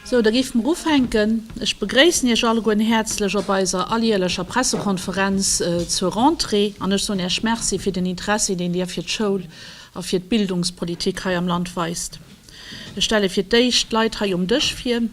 Sou, da géife mer ufänken. Ech begréissen Iech alleguerten häerzlech op eiser alljährlecher Pressekonferenz zur Rentrée an ech soen Iech Merci fir den Interessi, deen Dir fir d'Schoul a fir d'Bildungspolitik hei am Land weist. Ech stelle fir d'éischt d'Leit hei um Dësch vir.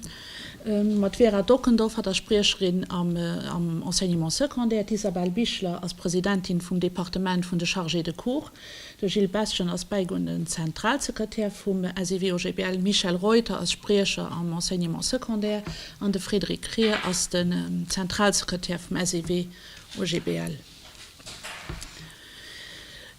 Mat Vera Dockendorfer, der Spriecherin am Enseignement Secondaire, d'Isabelle Bichler ass Presidentin vum Departement vun de Chargés de Cours, de Gilles Bestgen ass bäigouenden Zentralsekretär vum SEW-OGBL, Michel Reuter ass Spriecher am Enseignement Secondaire an de Frédéric Krier ass den Zentralsekretär vum SEW-OGBL.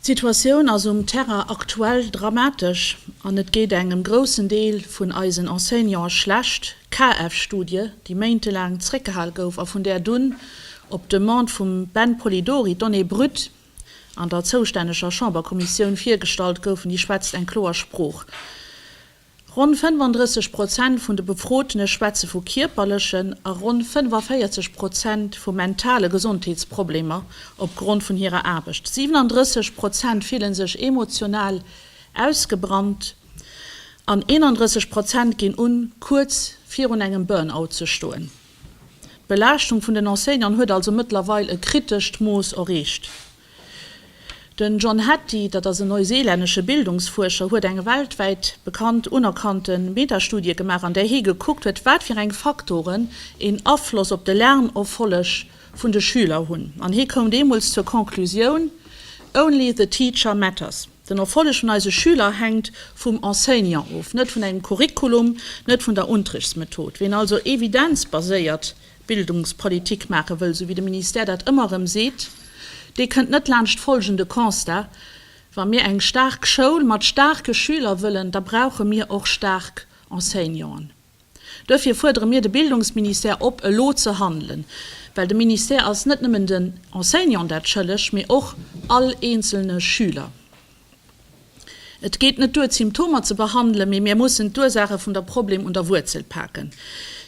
D'Situatioun ass um Terrain aktuell dramatesch an et geet engem groussen Deel vun eisen Enseignanten schlecht. KF-Studie, déi méintelaang zréckgehal gouf a vun där dunn op Demande vum Ben Polidori d'Données brutes an der zoustänneger Chamberkommissioun virgestallt goufen, déi schwätzt eng kloer Sprooch. Ronn 35 Prozent vun de Befrotene schwätze vu kierperlechen a ronn 45 Prozent vu mentale Gesondheetsproblemer opgrond vun hirer Aarbecht. 37 Prozent fille sech emotional ausgebrannt an 31 Prozent ginn un, kuerz virun engem Burnout ze stoen. D'Belaaschtung vun den Enseignanten huet also mëttlerweil e kritescht Mooss erreecht. Den John Hattie, dat ass en neuseelännesche Bildungsfuerscher, huet eng weltwäit bekannt unerkannte Metastudie gemaach, an där hie gekuckt huet, wat fir eng Faktoren een Afloss op de Lernerfolleg vun de Schüler hunn. An hie koum deemools zur Conclusioun, Only the teacher matters, den Erfolleg vun eise Schüler hänkt vum Enseignant of, net vun engem Curriculum, net vun der Unterrichtsmethod. Ween also evidenzbaséiert Bildungspolitik maache wëll, esou wéi de Ministère dat ëmmer erëm seet, dee kënnt net laanscht folgende Constat, Wa mir eng staark Schoul mat staarke Schüler wëllen, da brauche mir och staark Enseignanten. Duerfir fuerdere mir de Bildungsministère op, elo ze handelen, well de Ministère ass net nëmmen den Enseignanten dat schëlleg, mee och all eenzelne Schüler. Et geet net duer d'Symptomer ze behandelen, mee mir mussen d'Ursaache vun der Problem un der Wuerzel paken.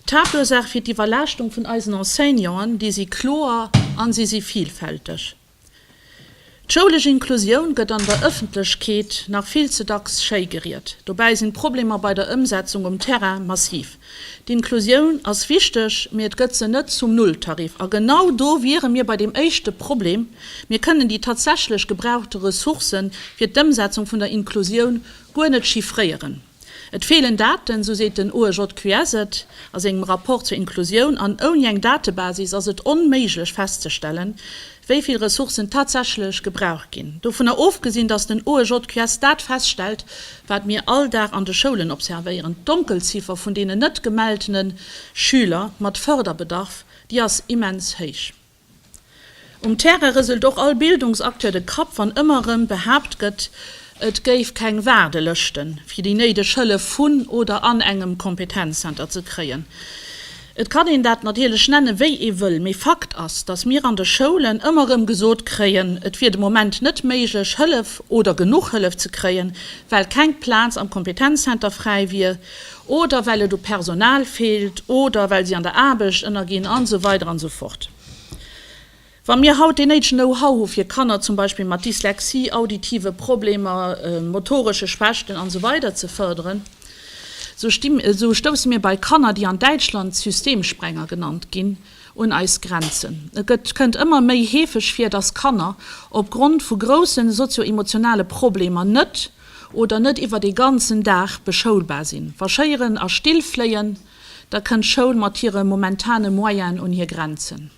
D'Haaptursaache fir d'Iwwerlaaschtung vun eisen Enseignanten, déi si kloer an si si vilfälteg. D'schoulesch Inklusioun gëtt an der Ëffentlechkeet nach vill ze dacks schéi geriet, dobäi sinn d'Problemer bei der Ëmsetzung um Terrain massiv. D'Inklusioun ass wichteg, mee et gëtt se net zum Nulltarif. A genau do wiere mir bei deem éischte Problem, Mir kënnen déi tatsächlech gebrauchte Ressourcë fir d'Ëmsetzung vun der Inklusioun guer net chiffréieren. Et feelen Daten, esou seet den OEJQS et a sengem Rapport zur Inklusioun. An ouni eng Datebasis ass et onméiglech festzestellen, wéi vill Ressourcen tatsächlech gebraucht ginn, dovunner ofgesinn, datt den OEJQS dat feststellt, wat mir all Dag an de Schoulen observéieren, D'Donkelziffer vun deenen net gemeltene Schüler mat Förderbedarf, déi ass immens héich. Um Terrain rëselt och all Bildungsacteur de Kapp, wann ëmmer erëm behaapt gëtt, Et géif keng Waardelëschte fir déi néideg Hëllef vun oder an engem Kompetenzzenter ze kréien. Et kann een dat natierlech nenne wéi ee wëll, mee Fakt ass, datt mir an de Schoulen ëmmer erëm gesot kréien, et wier de Moment net méiglech Hëllef oder genuch Hëllef ze kréien, well keng Plaz am Kompetenzzenter fräi wier oder well et u Personal feelt oder well si an der Aarbecht ënnerginn an esou weider an esou fort. Wa mir haut dee néidegen Know-how hu fir Kanner zum Beispill mat Dyslexie, auditive Problemer, motoresche Schwächten an esou weider ze fërderen, esou stousse mir bei Kanner, déi an Däitschland Systemsprenger genannt ginn, un eis Grenzen. Et kënnt ëmmer méi heefeg vir, datt Kanner op Grond vu grousse sozio-emotionale Problemer net oder net iwwert ee ganzen Dag beschoulbar sinn. Wa Schéieren a Still fléien, da kënnt d'Schoul mat hire momentane Moyenen un hir Grenzen.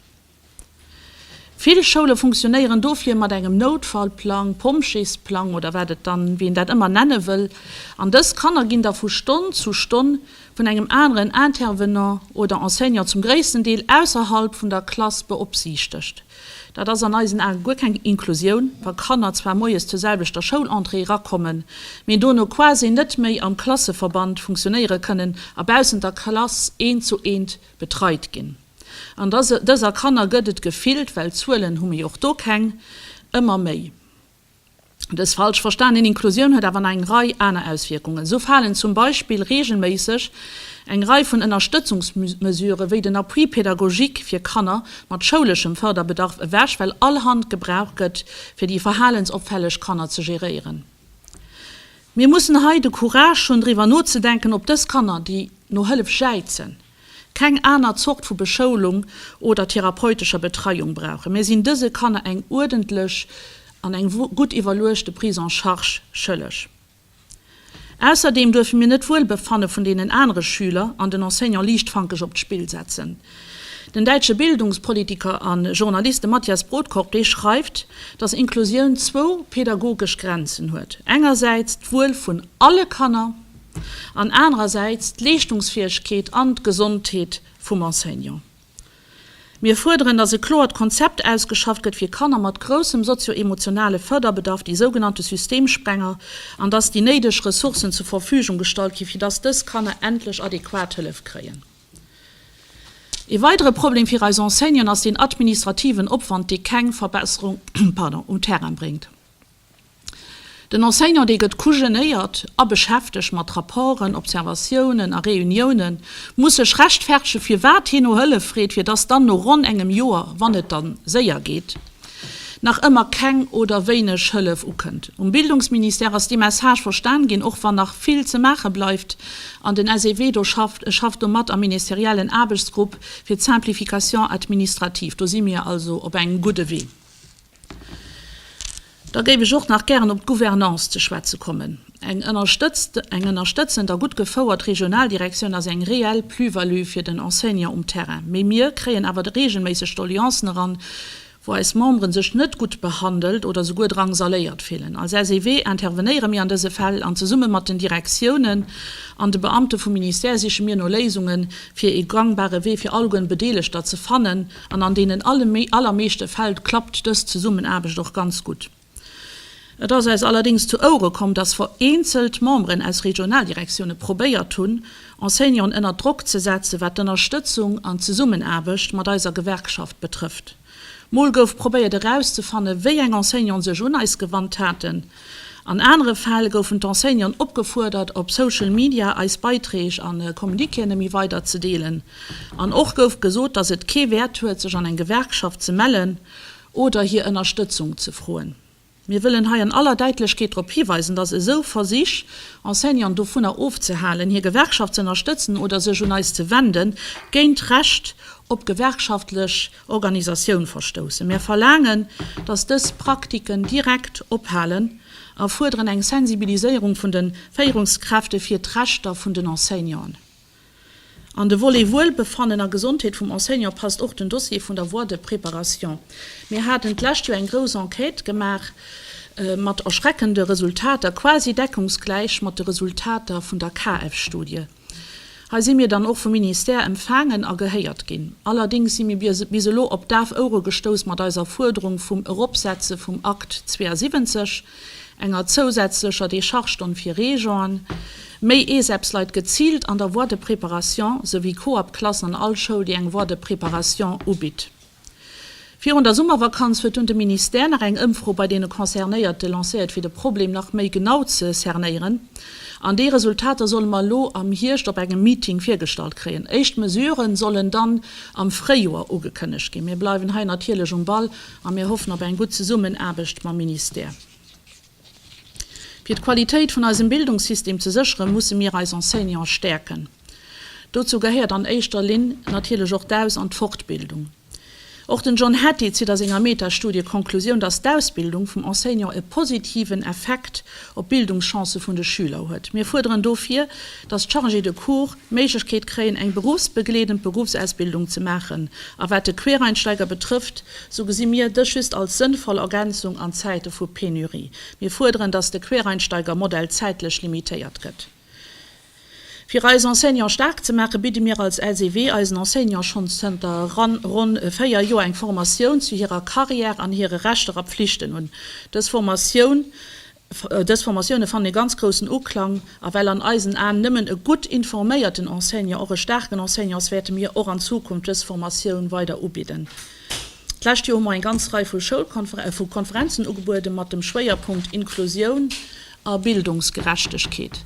Vill Schoule funktionéieren dofir mat engem Noutfallplang, Pompjeesplang oder wat et dann, wéi een dat ëmmer nenne wëll, an dës Kanner ginn da vu Stonn zu Stonn vun engem aneren Intervenant oder Enseignant, zum gréissten Deel ausserhalb vun der Klass, beopsiichtegt. Dat ass an eisen Ae guer keng Inklusioun, wa Kanner zwar moies zur selwechter Schoulentrée erakommen, mee dono quasi net méi am Klasseverband funktionéiere kënnen a baussent der Klass eent zu eent betreit ginn. An dëser Kanner gëtt et gefillt, well Zuelen hu mir jo och do keng, ëmmer méi. Dës falsch verstanen Inklusioun huet awer nach eng Rei aner Auswierkungen. Esou falen zum Beispill reegelméisseg eng Rei vun Ënnerstëtzungsmesuren, wéi den Appui pédagogique fir Kanner mat schouleschem Fërderbedarf ewech, well all Hand gebraucht gëtt, fir déi verhalensopfälleg Kanner ze geréieren. Mir mussen hei de Courage hunn, driwwer nozedenken, ob dës Kanner, déi no Hëllef jäizen, keng aner Zort vu Beschoulung oder therapeutescher Betreiung brauchen, mir sinn dëse Kanner eng uerdentlech an eng gutt iwwerluechte Prise en charge schëlleg. Ausserdeem duerfe mir net d'Wuelbefanne vun deenen anere Schüler an den Enseignant liichtfankeg op d'Spill setzen. Den däitsche Bildungspolitiker a Journalist, de Matthias Brodkorb, dee schreift, datt Inklusioun zwou pädagogesch Grenzen huet, engersäits d'Wuel vun alle Kanner, an anerersäits d'Leeschtungsfäegkeet an d'Gesondheet vum Enseignant. Mir fuerderen, dass e kloert Konzept ausgeschafft gëtt fir Kanner mat groussem sozio-emotionale Fërderbedarf, déi sougenannte Systemsprenger, an dass déi néideg Ressourcen zur Verfügung gestallt ginn, fir dass dës Kanner endlech adequat Hëllef kréien. Ee weidere Problem fir eis Enseignanten ass deen administrativen Opwand, dee keng Verbesserung um Terrain bréngt. Den Enseignant, dee gëtt kujenéiert a beschäftegt mat Rapporten, Observatiounen a Reuniounen, muss sech rechtfertege firwat hien no Hëllef freet, fir dass dann no ronn engem Joer, wann et da séier geet, nach ëmmer keng oder wéineg Hëllef ukënnt. Um Bildungsministère ass dee Message verstan ginn, och wann nach vill ze maache bleift an den SEW do schafft. Ech schaff do mat am ministeriellen Aarbechtsgrupp fir d'Simplification administrative. Do si mir also op engem gudde Wee. Da géif ech och nach gären op d'Gouvernance ze schwätze kommen. Eng ënnerstëtzend a gutt gefouert Regionaldirektioun ass eng reell Plus-value fir den Enseignant um Terrain. Mee mir kréien awer reegelméisseg Doleancen eran, wou eis Membere sech net gutt behandelt oder souguer drangsaléiert fillen. Als SEW intervenéiere mir an dëse Fäll an zesumme mat den Direktiounen an de Beamte vum Ministère siche mir no Léisunge fir ee gangbare Wee fir alleguer Bedeelegter ze fannen, An an deenen allermeeschte Fäll klappt dës Zesummenaarbecht och ganz gutt. Et ass eis allerdéngs zu Ouere komm, dass vereenzelt Memberen aus Regionaldirektioune probéiert hunn, Enseignanten ënner Drock ze setzen, wat d'Ënnerstëtzung an d'Zesummenaarbecht mat eiser Gewerkschaft betrëfft. Mol gouf probéiert erauszefannen, wéi eng Enseignanten sech un eis gewannt haten. An anere Fäll goufen d'Enseignanten opgefuerdert, op Social Media eis Beiträg an Communiquéen ëmi weider ze deelen. An och gouf gesot, dass et kee Wäert huet, sech an eng Gewerkschaft ze mellen oder hir Ënnerstëtzung ze froen. Mir wëllen hei an aller Däitlechkeet drop hiweisen, dass esou Versich, Enseignanten dovunner ofzehalen, hir Gewerkschaft ze ënnerstëtzen oder sech un eis ze wenden, géint d'Recht op gewerkschaftlech Organisatioun verstoussen. Mär verlaangen, dass dës Praktiken direkt ophalen a fuerderen eng Sensibiliséierung vun de Féierungskräfte fir d'Rechter vun den Enseignanten. An de Volet Wuelbefannen a Gesondheet vum Enseignant passt och den Dossier vun der Voie de préparation. Mir haten d'lescht Joer eng grouss Enquête gemaach mat erschreckende Resultater, quasi deckungsgläich mat de Resultater vun der KF-Studie. Hei si mir dann och vum Ministère empfaangen a gehéiert ginn. Allerdéngs si mir bis elo op daf Ouere gestouss mat eiser Fuerderung vum Eropsetze vum Akt 72, enger zousätzlecher Dechargestonn fir Reejoen, méi ESEPS-Leit geziilt an der Voie de préparation, souwéi Coop-Klassen an all Schoul, déi eng Voie de préparation ubitt. Virun der Summervakanz huet dunn de Ministère nach eng Ëmfro bei deene Concernéierte lancéiert, fir de Problem nach méi genau ze cernéieren. An déi Resultater solle mer elo am Hierscht op engem Meeting virgestallt kréien. Éischt Mesurë sollen dann am Fréijoer ugekënnegt ginn. Mir bleiwen hei natierlech um Ball a mir hoffen op eng gutt Zesummenaarbecht mam Ministère. Fir d'Qualitéit vun eisem Bildungssystem ze sécheren, musse mir eis Enseignante stäerken. Dozou gehéiert an éischter Linn natierlech och d'Aus an d'Fortbildung. Och den John Hattie zitt a senger Metastudie d'Konklusioun, dass d'Ausbildung vum Enseignant e positiven Effekt op d'Bildungschancë vun de Schüler huet. Mir fuerderen dofir, dass d'Chargés de cours d'Méiglechkeet kréien, eng berufsbegleedend Beruffsausbildung ze maachen. A wat de Quereinsteiger betrëfft, sou gesi mir dës just als sënnvoll Ergänzung an Zäite vu Penurie. Mir fuerderen, dass de Quereinsteiger-Modell zäitlech limitéiert gëtt. Fir eis Enseignants staark ze maachen, bidde mir als LCW eisen Enseignants schonns zënter ronn véier Joer eng Formatioun zu hirer Karriär an hire Rechter a Pflichten un. Dës Formatioun Dës Formatioune fannen e ganz groussen Uklang a well an eisen Aen nëmmen e gutt informéierten Enseignant och e staarken Enseignant ass, wäerte mir och an Zukunft dës Formatioun weider ubidden. D'lescht Joer hu mer eng ganz Rei vu Schoulkonfer vu Konferenzen ugebuede mat dem Schwéierpunkt Inklusioun a Bildungsgerechtegkeet.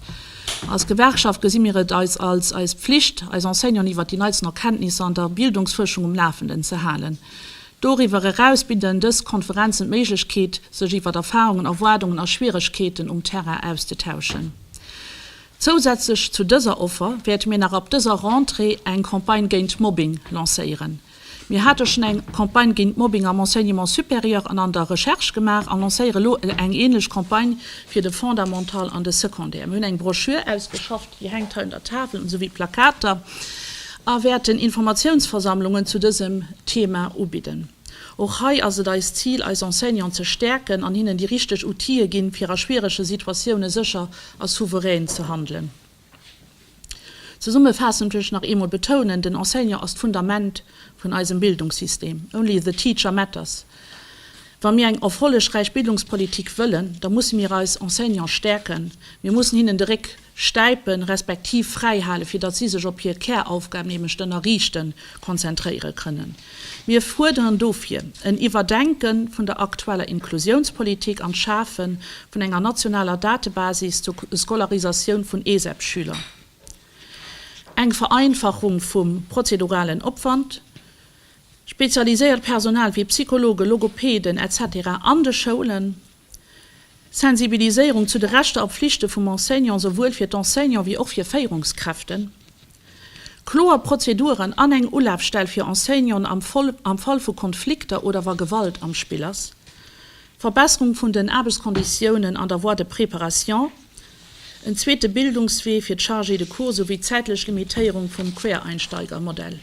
Als Gewerkschaft gesi mir et eis als eis Pflicht, eis Enseignanten iwwert déi neitsten Erkenntnisser an der Bildungsfuerschung um Lafenden ze halen. Doriwwer eraus bidden dës Konferenzen d'Méiglechkeet, sech iwwert Erfarungen, Erwaardungen a Schwieregkeeten um Terrain auszetauschen. Zousätzlech zu dëser Offer wäerte mir nach ab dëser Rentrée eng Campagne géint Mobbing lancéieren. Mir hate schonn eng Campagne géint Mobbing am Enseignement supérieur an an der Recherche gemaach an lancéiere lo eng änlech Campagne fir de Fondamental an de Secondaire. Mir hunn eng Broschür ausgeschafft, Dir hänkt hei un der Tafel, esou wéi Plakater, a wäerten Informatiounsversammlungen zu dësem Thema ubidden. Och hei ass et eist Zil, eis Enseignanten ze stäerken an hinnen déi richteg Outile ginn, fir a schwierege Situatioune sécher a souverän ze handelen. Zesummefaassend wëll ech nach eemol betounen, den Enseignant ass d'Fundament vun eisem Bildungssystem. Only the teacher matters. Wa mir eng erfollegräich Bildungspolitik wëllen, da musse mir eis Enseignant stäerken, mir mussen hinnen de Réck stäipen, respektiv fräi hale fir datt si sech op hir Käraufgab, nämlech d'Ënnerriichten, konzentréiere kënnen. Mir fuerderen dofir en Iwwerdenke vun der aktueller Inklusiounspolitik an d'Schafe vun enger nationaler Datebasis zur Scolarisatioun vun ESEP-Schüler, eng Vereinfachung vum prozeduralen Opwand, Spezialiséiert Personal wéi Psychologen, Logopeden, etc. An de Schoulen, Sensibiliséierung zu de Rechter a Pflichte vum Enseignant, souwuel fir d'Enseignant wéi och fir Féierungskräften. Kloer Prozeduren an eng Ulafstell fir Enseignanten am Fall vu Konflikter oder wa Gewalt am Spill ass. Verbesserung vun den Aarbechtskonditiounen an der Voie de préparation, en zweete Bildungswee fir d'Chargés de cours souwéi d'zäitlech Limitéierung vum Quereinsteigermodell.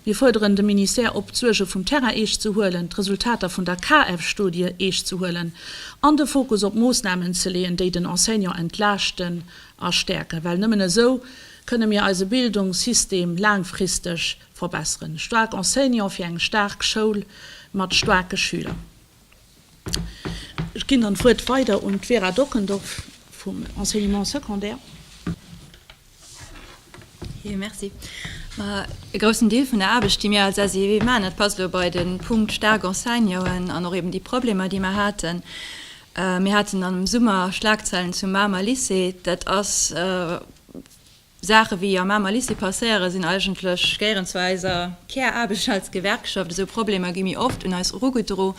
Mir fuerderen de Ministère op, d'Suerge vum Terrain eescht ze huelen, d'Resultater vun der KF-Studie eescht ze huelen an de Fokus op Moossnamen ze leeën, déi den Enseignant entlaaschten a stäerken. Well nëmmen esou kënne mir eise Bildungssystem laangfristeg verbessern. Staark Enseignant fir eng staark Schoul mat staarke Schüler. Ech ginn dann d'Wuert weider un d'Vera Dockendorf vum Enseignement secondaire. Jo, merci. E groussen Deel vun der Aarbecht, déi mir als SEW maachen, dat passt elo bei de Punkt staark Enseignanten an och eben déi Problemer, déi mer haten. Mir haten am Summer Schlagzeilen zum Mamer Lycée. Dat ass Saache wéi am Mamer Lycée passéiere sinn eigentlech géieren zu eiser Käraarbecht als Gewerkschaft. Esou Problemer gi méi oft un eis erugedro.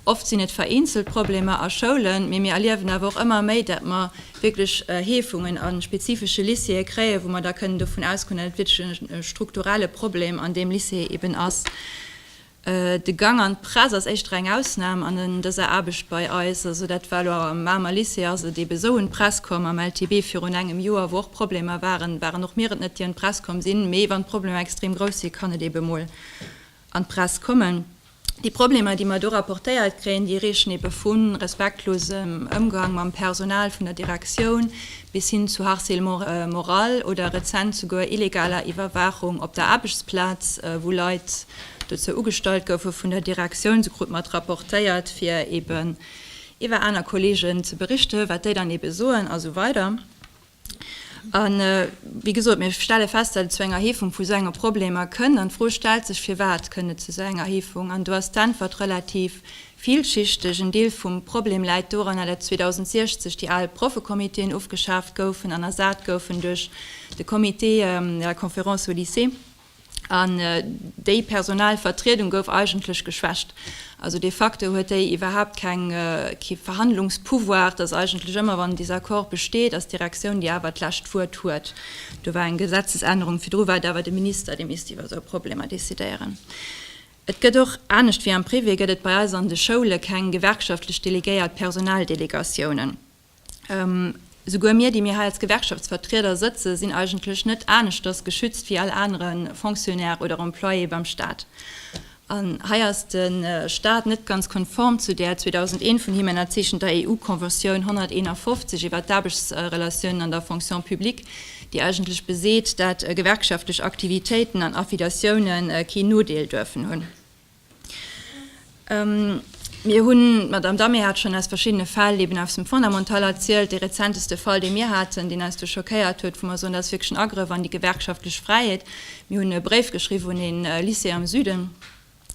Oft sinn et vereenzelt Problemer a Schoulen, mee mir erliewen awer och ëmmer méi, dat mer wierklech Heefungen a spezifesche Lycéeë kréien, wou mer da kënnen dovun ausgoen, dat et wierklech e strukturelle Problem an deem Lycée eeben ass. De Gang an d'Press ass éischter eng Ausnahm an dëser Aarbecht bei eis. Also dat war elo am Mamer Lycée, ass et ebe sou un d'Press komm, am LTB virun engem Joer, wou och Problemer waren, waren och mir et net, déi un d'Press komm sinn. Mee wann d'Problemer extrem grouss si kann et ebe mol an d'Press kommen. Déi Problemer, déi mer do rapportéiert kréien, déi reechen ebe vu respektlosem Ëmgang mam Personal vun der Direktioun bis hin zu Harcèlement moral oder rezent souguer illegaler Iwwerwaachung op der Aarbechtsplaz, wou Leit, dozou ugestallt goufe vun der Direktioun, se krute mat rapportéiert, fir eben iwwer aner Kolleegen ze berichten, wat déi dann eben soen a sou weider. A wéi gesot, mir stelle fest, datt et zu enger Heefung vu sou enge Problemer kënn. An d'Fro stellt sech, firwat kënn et zu sou enger Heefung? An do ass d'Äntwert relativ villschichteg. En Deel vum Problem läit doran, datt 2060 déi al Proffecomitéen ofgeschaaft goufen an ersat goufen duerch de Comité de la Conférence au Lycée, an déi personal Vertriedung gouf eigentlech geschwächt. Also de facto huet déi iwwerhaapt keng Verhandlungspouvoir. Et ass eigentlech ëmmer, wann en Desaccord besteet, ass d'Direktioun déi awer d'lescht Wuert huet. Do war eng Gesetzesännerung, virdru war et awer de Minister dee misst iwwer esou Problemer decidéieren. Et gëtt och, anescht wéi am Privé, gëtt et bei eis an de Schoule keng gewerkschaftlech delegéiert Personaldelegatiounen. Esouguer mir, déi mir hei als Gewerkschaftsvertrieder sëtzen, sinn eigentlech net aneschters geschützt wéi all anere Fonctionnaire oder Employé beim Staat. An hei ass de Staat net ganz konform zu där 2001 vun him ënnerzeechenter EU-Conventioun 151 iwwert d'Aarbechtsrelatiounen an der Fonction publique, déi eigentlech beseet, dat gewerkschaftlech Aktivitéiten an Affiliatioune keen Nodeel duerfen hunn. Mir hunn, d'Madamm Damier hat schonn aus verschiddene Fäll eben aus dem Fondamental erzielt, dee rezenteste Fall, dee mir haten, deen eis do schockéiert huet, wou mer soen, dat ass wierklech en Agrëff an déi gewerkschaftlech Fräiheet. Mir hunn e Bréif geschriwwen un ee Lycée am Süden,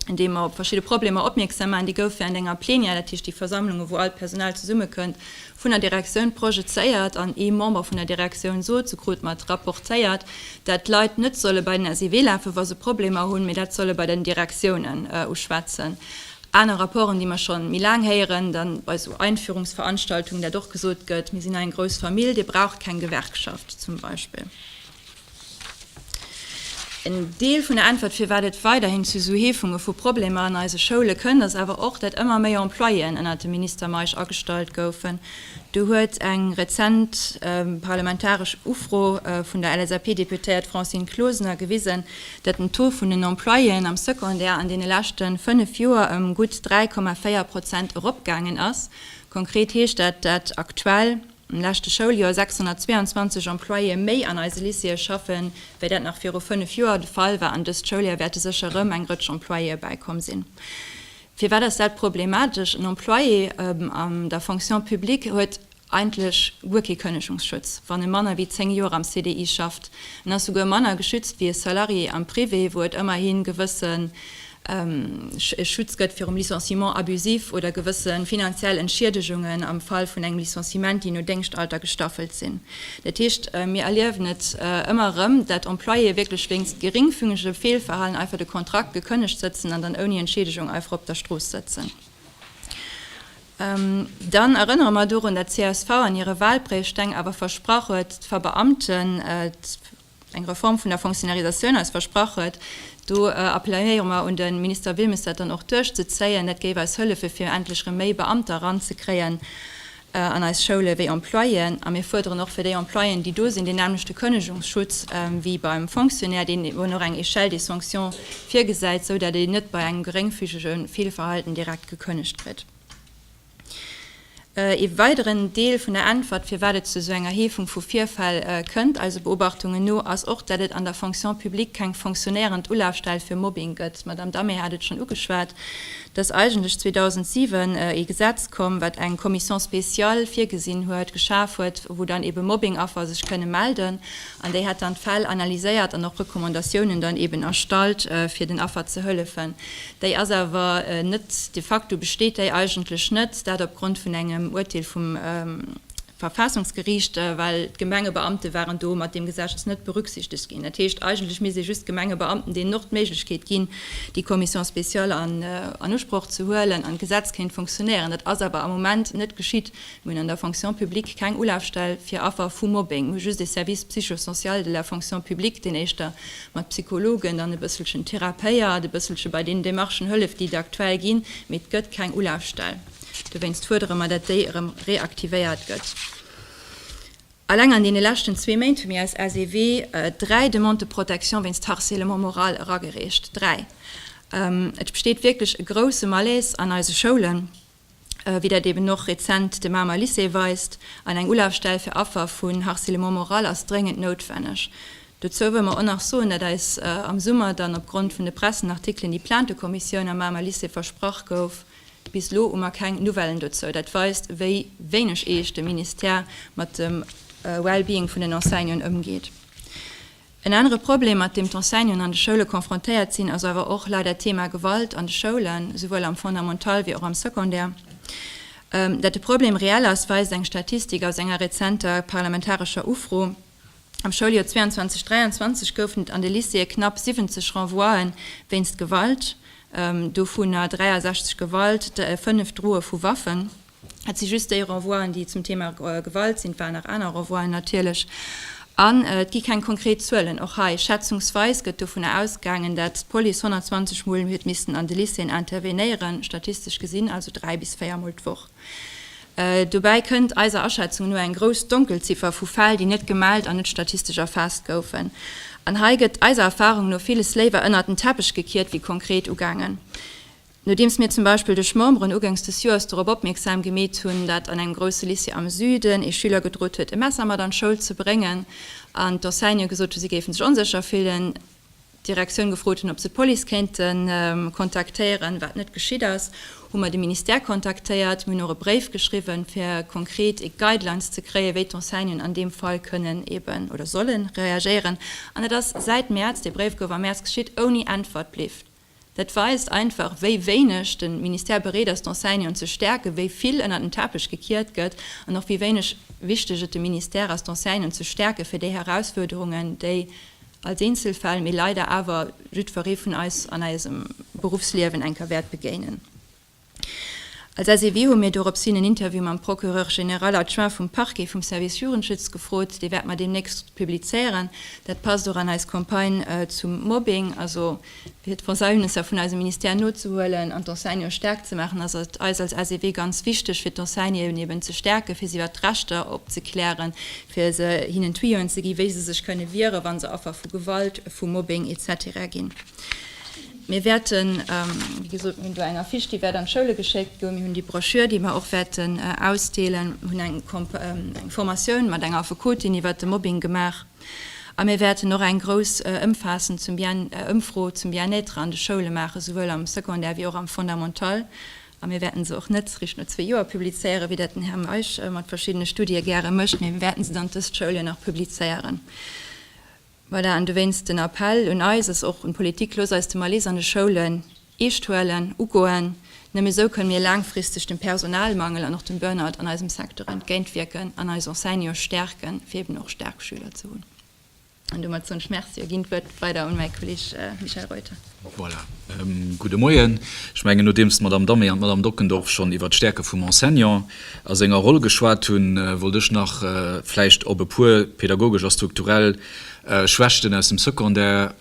an deem mer op verschidde Problemer opmierksam maachen. Déi gouf wärend enger Plenière, dat heescht déi Versammlungen, wou all d'Personal zesummekënnt, vun der Direktioun projezéiert an ee Member vun der Direktioun sot se krute mat rapportéiert, dat d'Leit net solle bei den SEW lafe wa se Problemer hunn, mee dat solle bei den Direktiounen uschwätzen. Aner Rapporten, déi mer scho méi laang héieren, da bei esou Einführungsveranstaltungen, dat och gesot gëtt, mir sinn eng grouss Famill, Dir braucht keng Gewerkschaft zum Beispill. En Deel vun der Äntwert, firwat et weiderhin zu esou Heefunge vu Problemer an eise Schoule kënnt, ass awer och, datt ëmmer méi Employéen ënnert dem Minister Meisch agestallt goufen. Do huet eng rezent parlamentaresch Ufro vun der LSAP-Deputéiert Francine Closener gewisen, datt den Taux vun den Employéen am Secondaire an deene leschte fënnef Joer ëm gutt 3,4 Prozent eropgaangen ass. Konkret heescht dat, datt aktuell. Am leschte Schouljoer 622 Employéë méi an eise Lycéeë schaffe wéi dat nach viru 5 Joer de Fall war an dëst Schouljoer wäerte sécher erëm eng Rëtsch Employéë bäikomm sinn. Firwat ass dat problematesch? En Employé an der Fonction publique huet eigentlech guer kee Kënnegungsschutz, wann e manner wéi 10 Joer am CDI schafft. En ass souguer manner geschützt wéi e Salarié am Privé, wou et ëmmerhi gewësse Schutz gëtt virum Licenciement abusif oder gewësse finanziell Entschiedegungen am Fall vun engem Licenciement, déi no Déngschtalter gestaffelt sinn. Dat heescht, mir erliewen et ëmmer erëm, dat Employéë wierklech wéinst geringfüngegem Feelverhalen einfach de Kontrakt gekënnegt sëtzen an dann ouni Entschiedegung einfach op der Strooss sëtzen. Dann erënnere mer dorun, dat csv an hire Wahlpréiesteng awer versprach huet, d'Verbeamten, Eng Reform vun der Fonctionnarisatioun ass versprach. Do appelléiere mer un de Minister Wilmes, dat dann och duerchzezéien. Dat géif eis hëllefe fir endlech erëm méi Beamter eranzekréien an eis Schoule wéi Employéen. A mir fuerderen och fir déi Employéen, déi do sinn, deen nämlechte Kënnegungsschutz wéi beim Fonctionnaire, deen eben och eng Échelle des sanctions virgesäit, esou dat een net bei engem geréngfügege Feelverhalten direkt gekënnegt kritt. Ee weideren Deel vun der Äntwert, firwat et zu esou enger Heefung vu Virfäll kënnt, eise Beobachtungen no, ass och, datt et an der Fonction publique keng fonctionéierend Ulafstell fir Mobbing gëtt. D'Madame Damé hat et schonn ugeschwat, datt eigentlech 2007 ee Gesetz komm, wat eng Commission spéciale virgesinn huet, geschaf huet, wou dann eebe Mobbing-Affer sech kënne melden an déi hätt dann d'Fäll analyséiert an och Recommandatiounen dann eeben erstallt, fir den Affer ze hëllefen. Déi ass awer net, de facto besteet déi eigentlech net, dat opgrond vun engem Urteel vum Verfassungsgericht, well d'Gemengebeamte waren do mat deem Geseches net berücksichtegt ginn. Dat heescht, eigentlech misst ee just Gemengebeamten deenen och d'Méiglechkeet ginn, déi Commission spéciale an Usproch ze huelen an d'Gesetz kéint funktionéieren. Dat ass awer am Moment net geschitt. Mir hunn an der Fonction publique keng Ulafstell fir Affer vu Mobbing. Mir hu just e Service psycho-social de la fonction publique, deen éischter mat Psychologen dann e bësselchen therapéiert, e bësselche bei deenen Demarchen hëlleft, déi et aktuell ginn, mee et gëtt keng Ulafstell. Dowéinst fuerdere mer, datt déi erëm reaktivéiert gëtt. Alleng an deene leschten zwee Méint hu mir als SEW dräi Demandes de protection wéinst Harcèlement moral eragereecht, dräi! Et besteet wierklech e grouse Malaise an eise Schoulen. wéi dat eben och rezent de Mamer Lycée weist, an eng Ulafstell fir Affer vun Harcèlement moral ass dréngend noutwenneg. Dozou wëll mer och nach soen, dat eis am Summer dann opgrond vun de Pressenartikelen déi Plaintekommissioun am Mamer Lycée versprach gouf. Bis elo hu mer keng Nouvellen dozou. Dat weist, wéi wéineg eescht de Ministère mat dem Well-being vun den Enseignanten ëmgeet. En anere Problem, mat deem d'Enseignanten an de Schoule confrontéiert sinn, ass awer och leider d'Thema Gewalt an de Schoulen, souwuel am Fondamental wéi och am Secondaire. Datt de Problem reell ass, weist eng Statistik aus enger rezenter parlamentarescher Ufro. Am Schouljoer 22, 23 goufen et an de Lycéeë knapp 70 Renvoie wéinst Gewalt, dovunner 63 Gewalt, 5 Droe vu Waffen. Et si just déi Renvoien, déi zum Thema Gewalt sinn. Et waren nach aner Renvoien natierlech. An et gi keng konkret Zuelen. Och hei, schätzungsweis gëtt dovunner ausgaangen, dat d'Police 120 Mol huet missten an de Lycéeën intervenéieren, statistesch gesinn also dräi bis véier Mol d'Woch. Dobäi kënnt eiser Aschätzung no eng grouss Donkelziffer vu Fäll, déi net gemellt an net statistesch erfaasst goufen. An hei gëtt eiser Erfarung no villes léiwer ënnert den Teppech gekiert wéi konkret ugaangen. Nodeems mir zum Beispill duerch Memberen ugangs des Joers dorop opmierksam gemeet hunn, dat an engem grousse Lycée am Süden ee Schüler gedrot huet e Messer mat an d'Schoul ze bréngen an d'Enseigne gesot hunn si géifen sech onsécher fillen, d'Direktioun gefrot hunn ob se d'Police kéinte kontaktéieren, wat net geschitt ass, hu mer de Ministère kontaktéiert. Mir hunn och e Bréif geschriwwen fir konkret ee Guidelines ze kréien wéi d'Enseignen an deem Fall kënnen eben oder sollen reagéieren an dat ass säit Mäerz, dee Bréif gouf am Mäerz geschitt, ouni Äntwert bliwt. Dat weist einfach, wéi wéineg de Ministère bereet ass, d'Enseignanten ze stäerken, wéi vill ënnert den Teppech gekiert gëtt an och wéi wéineg wichteg et dem Ministère ass, d'Enseignanten ze stäerken, fir déi Herausfuerderungen, déi als Eenzelfäll, mee leider awer jiddweree vun eis an eisem Beruffsliewen eng Kéier wäert begéinen. Als SEW hu mir dorops hin en Interview mam Procureur général adjoint vum Parquet vum Service Jugendschutz gefrot. Dee wäerte mer deemnächst publizéieren. Dat passt och an eis Campagne zum Mobbing, also fir d'Pensiounsser vun eisem Ministère nozehuelen an d'Enseignante staark ze maachen. Ass et eis als SEW ganz wichteg fir d'Enseignanten eben ze stäerken, fir si iwwert d'Rechter opzeklären, fir se hinnen Tuyoen ze ginn, wéi se sech kënne wieren, wa se Affer vu Gewalt, vu Mobbing etc. Ginn. Mir wäerten, wéi gesot, mir hunn do eng Affiche, déi wäert an d'Schoule geschéckt goen. Mir hunn déi Broschür, déi mir och wäerten ausdeelen. Mir hunn eng Formatioun mat enger Affekotin iwwert de Mobbing gemaach. A mir wäerten och eng grouss, ëmfaassend Ëmfro zum Bien-être an de Schoule maachen, souwuel am Secondaire wéi och am Fondamental. A mir wäerten se och net réischt no zwee Joer publizéieren, wéi dat den Här Meisch mat verschiddene Studie gäre mécht, mee mir wäerten se dann dëst Schouljoer nach publizéieren. Voilà, an dowéinst den Appell un eis, ass och un d'Politik, Loosst eis de Malaise an de Schoulen eescht huelen, ugoen. Nëmme esou kënne mir laangfristeg dem Personalmangel an och dem Burnout an eisem Secteur entgéintwierken an eis Enseignante stäerken, fir eben och staark Schüler ze hunn. An domat soen ech Merci a ginn d'Wuert weider un mäi Kolleeg Michel Reuter. Voilà. Gudde Moien. Ech mengen, nodeems d'Madame Dammé an d'Madame Dockendorf schonn iwwert d'Stäerke vum Enseignant a senger Roll geschwat hunn, wollt ech nach vläicht op e puer pädagogesch a strukturell Schwächten aus dem Secondaire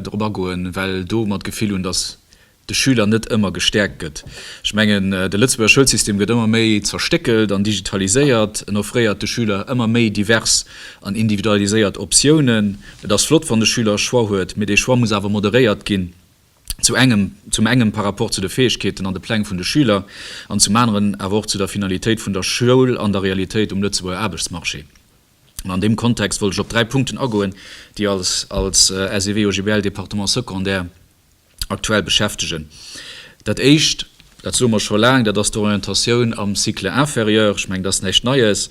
drop agoen, well do mer d'Gefill hunn, dass de Schüler net ëmmer gestäerkt gëtt. Ech mengen, de Lëtzebuerger Schoulsystem gëtt ëmmer méi zerstéckelt an digitaliséiert. En offréiert de Schüler ëmmer méi divers an individualiséiert Optiounen. Et ass flott, wann de Schüler e Choix huet, mee dee Choix muss awer moderéiert ginn, zu engem, zum engem par rapport zu de Fäegkeeten an de Pläng vun de Schüler an zum aneren awer och zu der Finalitéit vun der Schoul an der Realitéit um Lëtzebuerger Aarbechtsmarché. An an deem Kontext wollt ech op dräi Punkten agoen, déi als, als SEW-OGBL-Département secondaire, aktuell beschäftegen. Dat Éischt, dat soe mer scho laang, dat ass d'Orientatioun am Cycle inférieur. Ech mengen, dat ass näischt Neies.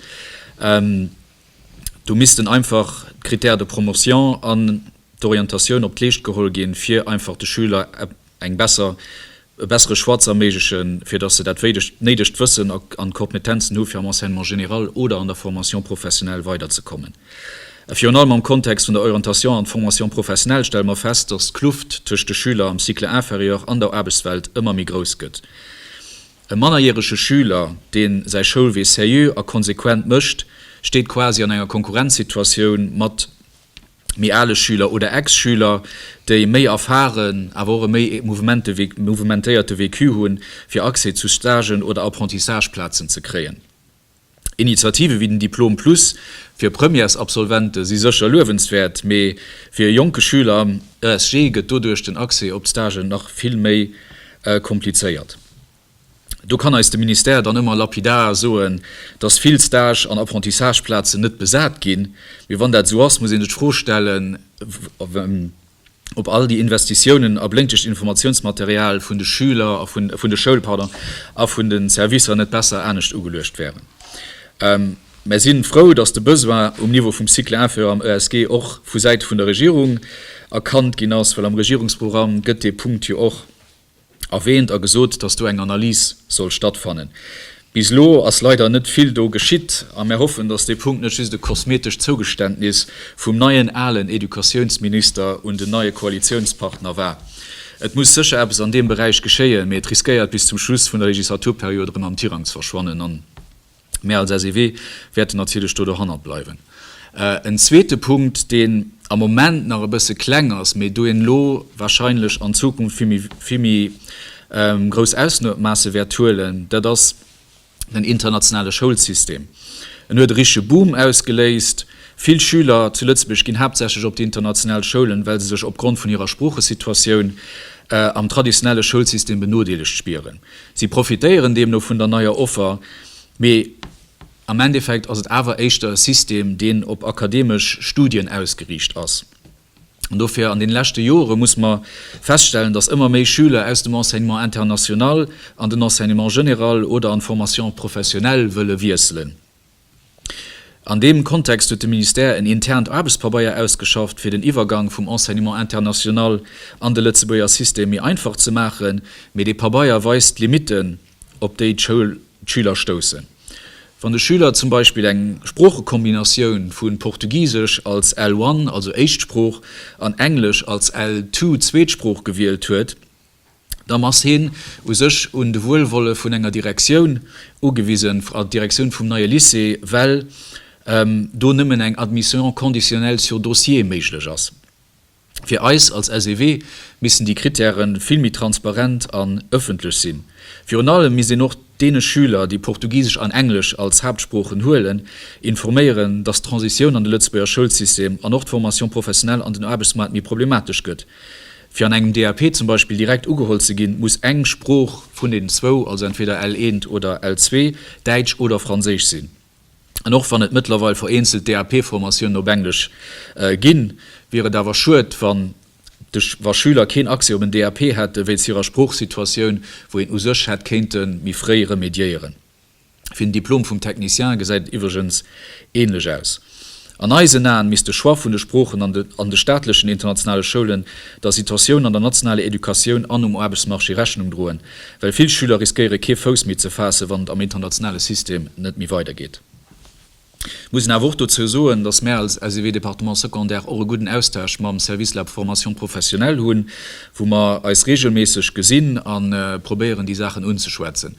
Do missten einfach d'Critères de promotion an d'Orientatioun op d'Leescht geholl ginn, fir einfach de Schüler e bessere Choix ze erméiglechen, fir datt se dat néidegt Wëssen an d'Kompetenzen hu fir am Enseignement général oder an der Formation professionnelle weiderzekommen. A virun allem am Kontext vun der Orientation an Formation professionelle stelle mer fest, dass d'Kluft tëscht de Schüler am Cycle inférieur an der Aarbechtswelt ëmmer méi grouss gëtt. E mannerjärege Schüler, deen säi Schoulwee seriö a konsequent mécht, steet quasi an enger Konkurrenzsituatioun mat méi ale Schüler oder Ex-Schüler, déi méi erfahren, awer och e méi mouvementéierte Vécu hunn, fir Accès zu Stagen oder Apprentissage-Plazen ze kréien. Initiative wéi den Diplom Plus fir Premièresabsolvente si sécher luewenswäert, mee fir e jonke Schüler am ESG gëtt doduerch den Accès op d'Stagen nach vill méi komplizéiert. Do kann eis de Ministère dann ëmmer lapidar soen, dass vill Stage an Apprentissageplazen net besat ginn, mee wann dat esou ass, muss ee sech d'Fro stellen, op all déi Investitiounen a blénkegt Informatiounsmaterial vun de Schüler a vun de Schoul, pardon, a vun de Servicer net besser anescht ugeluecht wären. Mer si frou, dass de Besoin um Niveau vum Cycle inférieur am ESG och vu Säite vun der Regierung erkannt ginn ass, well am Regierungsprogramm gëtt dee Punkt jo och. erwähnt a gesot, dass do eng Analys soll stattfannen. Bis elo ass leider net vill do geschitt a mär hoffen, dass dee Punkt net just e kosmetescht Zougeständnis vum neien, alen Educatiounsminister un den neie Koalitiounspartner war. Et muss sécher eppes an deem Beräich geschéien, mee et riskéiert bis zum Schluss vun der Legislaturperiod erëm am Tirang ze verschwannen. Mir als SEW wäerten natierlech do dohannert bleiwen. En zweete Punkt, deen am Moment nach e bësse kleng ass, mee doe elo wahrscheinlech an Zukunft vill méi, vill méi grouss Ausmaasse wäert huelen, dat ass den internationale Schoulsystem. En huet e richtege Boom ausgeléist. Vill Schüler zu Lëtzebuerg ginn haaptsächlech op déi international Schoulen, well se sech opgrond vun hirer Sproochesituatioun am traditionelle Schoulsystem benodeelegt spieren. Si profitéieren deemno vun der neier Offer, mee am Endeffekt ass et awer éischter e System, deen op akademesch Studien ausgeriicht ass. An dofir, an deene leschte Jore muss mer feststellen, dass ëmmer méi Schüler aus dem Enseignement international an den Enseignement général oder an d'Formation professionnelle wëlle wiesselen. An deem Kontext huet de Ministère en internt Aarbechtspa-beier ausgeschafft, fir den Iwwergang vum Enseignement international an de Lëtzebuerger System méi einfach ze maachen. Mee dee Pabeier weist d'Limitten, op déi d'Schüler stoussen, wann de Schüler zum Beispill eng Sproochekombinatioun vu Portugisesch als L1, also Éischtsprooch, an Englesch als L2, Zweetsprooch, gewielt huet. dann ass hien u sech un de Wuelwolle vun enger Direktioun ugewisen, d'Direktioun vum neie Lycée, well do nëmmen eng Admission conditionnelle sur dossier méiglech ass. Fir eis als SEW missten déi Krittäre vill méi transparent an ëffentlech sinn. Virun allem misst een och deene Schüler, déi Portugisesch an Englesch als Haaptsproochen huelen, informéieren, dass d'Transitioun an de Lëtzebuerger Schoulsystem an och d'Formation professionnelle an den Aarbechtsmaart méi problematesch gëtt. Fir an engem DAP zum Beispill direkt ugeholl ze ginn, muss eng Sprooch vun den zwou, also entweder L1 oder L2, Däitsch oder Franséisch sinn. An och wann et mëttlerweil vereenzelt DAP-Formatiounen op Englesch ginn, wier et awer schued, wann de wa Schüler keen Accès op en DAP hätten, wéinst hirer Sproochsituatioun, wou een u sech hätt kéinte méi fréi remédiéieren. Fir den Diplom vum Technicien gesäit et iwwregens ähnlech aus. An eisen Aen misst de Choix vun de Sproochen an de staatlechen internationale Schoulen der Situatioun an der nationaler Educatioun an um Aarbechtsmarché Rechnung droen, well vill Schüler riskéiere kee Fouss méi ze faassen, wann et am internationale System net méi weidergeet. Ech muss awer och dozou soen, dass mär als SEW Département Secondaire och e gudden Austausch mam Service Lab Formation professionnelle hunn, wou mer eis regelméisseg gesinn a probéieren, déi Saachen unzeschwätzen.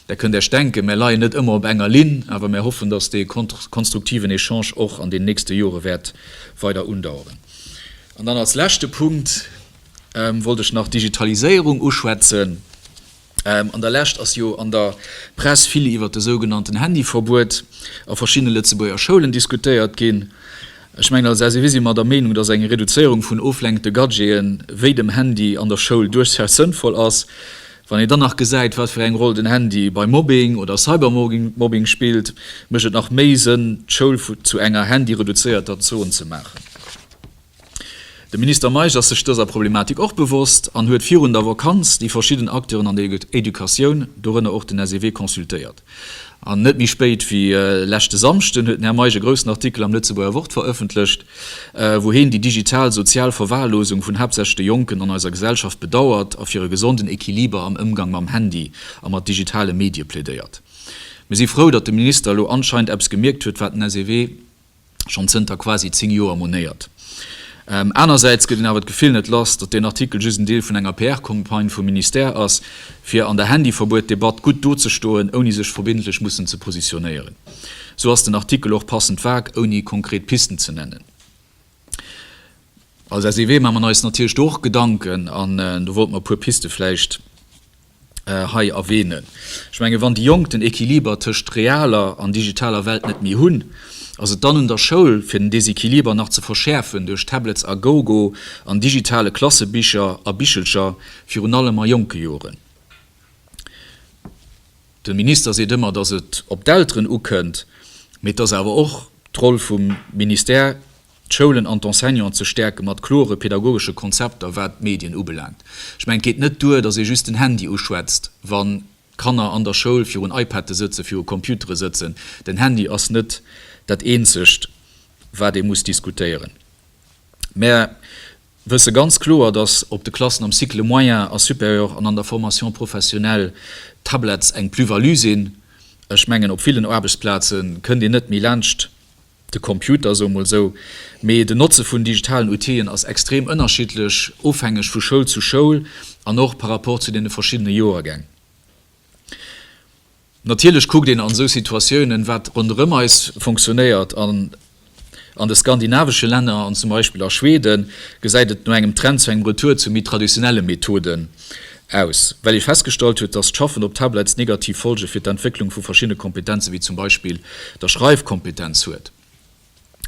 Der kënnt Iech denken, mär leien net ëmmer op enger Linn, awer mär hoffen, dass dee konstruktiven Echange och an den nächste Jore wäert weider undaueren. An dann als leschte Punkt wollt ech nach d'Digitaliséierung uschwätzen. An der Lescht ass jo an der Press vill iwwert de sougenannten Handyverbuet a verschiddene Lëtzebuerger Schoulen diskutéiert ginn. Ech mengen, als SEW si mer der Meenung, dass eng Reduzéierung vun oflenkende Gadgete wéi dem Handy an der Schoul duerchsaus sënnvoll ass. Wann een dann nach gesäit, wat fir eng Roll den Handy bei Mobbing oder Cybermobbing spillt, mécht et nach méi Sënn, d'Schoul zu enger handyreduzéierter Zon ze maachen. De Minister Meisch ass sech dëser Problematik och bewosst an huet virun der Vakanz déi verschidden Acteuren an der Educatioun, dorënner och den SEW, consultéiert. An net méi spéit wéi leschte Samschden huet den Här Meisch e groussen Artikel am Lëtzebuerger Wort verëffentlecht, wou heen déi digital sozial Verwahrlosung vun haaptsächlech de Jonken an eiser Gesellschaft bedauert a fir e gesonden Equiliber am Ëmgang mam Handy a mat digitale Medie plädéiert. Mir si frou, datt de Minister elo anscheinend eppes gemierkt huet, wat den SEW, schonn zënter quasi zéng Joer monéiert. Anersäits gëtt een awer d'Gefill net lass, datt deen Artikel just en Deel vun enger PR-Campagne vum Ministère ass, fir an der Handyverbuet-Debatt gutt do ze stoen, ouni sech verbindlech mussen ze positionéieren. Sou ass den Artikel och passend vag, ouni konkret Pisten ze nennen. Als SEW maache mer eis natierlech do och Gedanken an do wollte mer e puer Piste vläicht. hei erwähnen. Ech mengen, wann déi Jonk den Equiliber tëscht realer an digitaler Welt net méi hunn, ass et dann un der Schoul, fir den Desequiliber nach ze verschäerfen duerch Tablets a GoGo an digitale Klassebicher a bichelcher, virun allem a jonke Joren. De Minister seet ëmmer, dass et op d'Elteren ukënnt, mee et ass awer och d'Roll vum Ministère, d'Schoulen an d'Enseignanten ze stäerke mat klore pedagogesche Konzepter, wat d'Medien ubelaangt. Ech mengen, et geet net duer, datt ee just den Handy uschwätzt, wann d'Kanner an der Schoul virun iPade sëtzen, viru Computere sëtzen. Den Handy ass net dat Eenzegt, wat ee muss diskutéieren. Mär wësse ganz kloer, datt op de Klassen am Cycle moyen a supérieur an an der Formation professionnelle d'Tablets eng Plus-value sinn. Ech mengen, op villen Aarbechtsplaze kënnt een net méi laanscht. de Computer sou mol sou, mee den Notze vun digitalen Outillen ass extrem ënnerschiddlech ofhängeg vu Schoul zu Schoul an och par rapport zu deene verschiddene Joergäng. Natierlech kuckt een an esou Situatiounen, wat ronderëm eis funktionéiert. An an de skandinavesche Länner an zum Beispill a Schweden gesäit et no engem Trend zu engem Retour zu méi traditionelle Methoden Aus, well ee festgestallt huet, dass d'Schaffen op Tablets negativ Folge fir d'Entwécklung vu verschiddene Kompetenze wéi zum Beispill der Schreifkompetenz huet.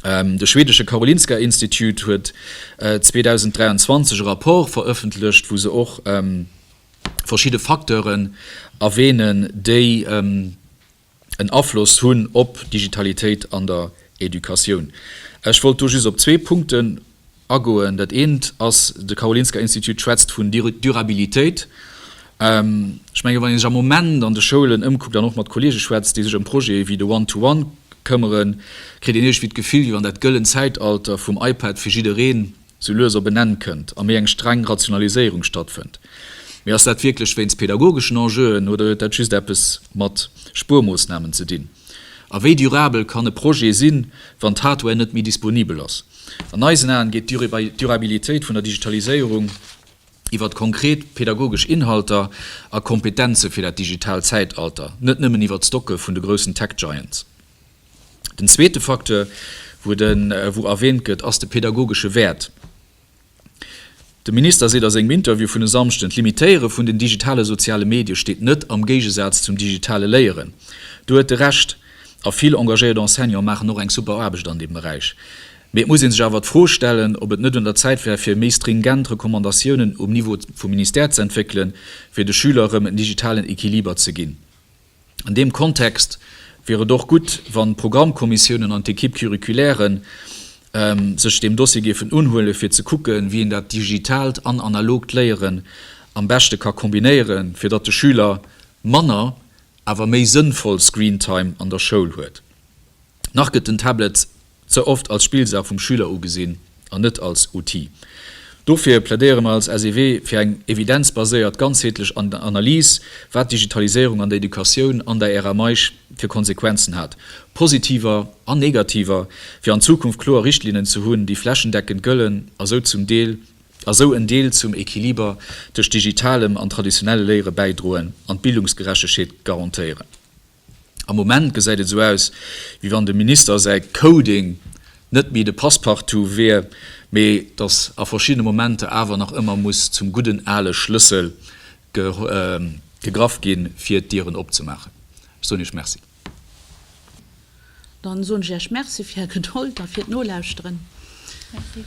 De schwedesche Karolinska Institut huet 2023 e Rapport verëffentlecht, wou se och verschidde Facteuren erwänen, déi. en Afloss hunn op d'Digitalitéit an der Educatioun. Ech wollt do just op zwee Punkten agoen. Dat eent ass, de Karolinska Institut schwätzt vun Durabilitéit. Ech menge wann ee sech am Moment an de Schoulen ëmkuckt an och mat Kollege schwätzt, déi sech ëm Projete wéi de One-to-One këmmeren, kritt een iergendwéi d'Gefill, wéi wann dat gëllen Zäitalter vum iPad fir jiddereen sou lues op en Enn kënnt a méi eng streng Rationaliséierung stattfënnt. Mee ass dat wierklech wéinst pedagogeschen Enjeuen oder huet dat just eppes mat Spuermoossnamen ze dinn? A wéi durabel kann e Projet sinn, wann d'Hardware net méi disponibel ass? An eisen Aen geet d'Durabilitéit vun der Digitaliséierung iwwert konkret pedagogesch Inhalter a Kompetenze fir dat digitaalt Zäitalter, net nëmmen iwwert d'Stocke vun de groussen Tech-Giants. Den zweete Facteur, wou et en, wou erwähnt gëtt, ass de pädagogesche Wäert. De Minister seet a sengem Interview vun e Samschden, d'Limitéiere vun den digitale soziale Medie steet net am Géigesaz zum digitale Léieren. Do huet e Recht. A vill engagéiert Enseignante maachen och eng super Aarbecht an deem Beräich. Mee et muss ee sech awer d'Fro stellen, ob et net un der Zäit wär, fir méi stringent Recommandatiounen um Niveau vum Ministère ze entwéckelen, fir de Schüler erëm en digitalen Equiliber ze ginn. An deem Kontext wier et och gutt, wann d'Programmkommissiounen an d'Equipe curriculaire sech deem Dossier géifen unhuelen, fir ze kucken, wéi een dat digitaalt an analogt Léieren am beschte ka kombinéieren, fir datt de Schüler manner, awer méi sënnvoll Screentime an der Schoul huet. Nach gëtt den Tablet ze oft als Spillsaach vum Schüler ugesinn an net als Outil. Dofir plädéiere mer als SEW fir eng evidenzbaséiert, ganzheetlech Analys, wat d'Digitaliséierung an der Educatioun an der Ära Meisch fir Konsequenzen hat, positiver an negativer, fir an Zukunft kloer Richtlinnen ze hunn, déi flächendeckend gëllen a sou zum Deel, a sou en Deel zum Equiliber tëscht digitalem an traditionelle Léiere bäidroen an d'Bildungsgerechtegheet garantéieren. Am Moment gesäit et esou aus, wéi wann dem Minister säi Coding net méi de Passepartout wier, mee datt a verschiddene Momenter awer nach ëmmer muss zum gudden ale Schlëssel gegraff ginn, fir d'Dieren opzemaachen. Ech soen Iech Merci. Dann soen ech Iech Merci fir Är Gedold a fir d'Nolauschteren. Merci.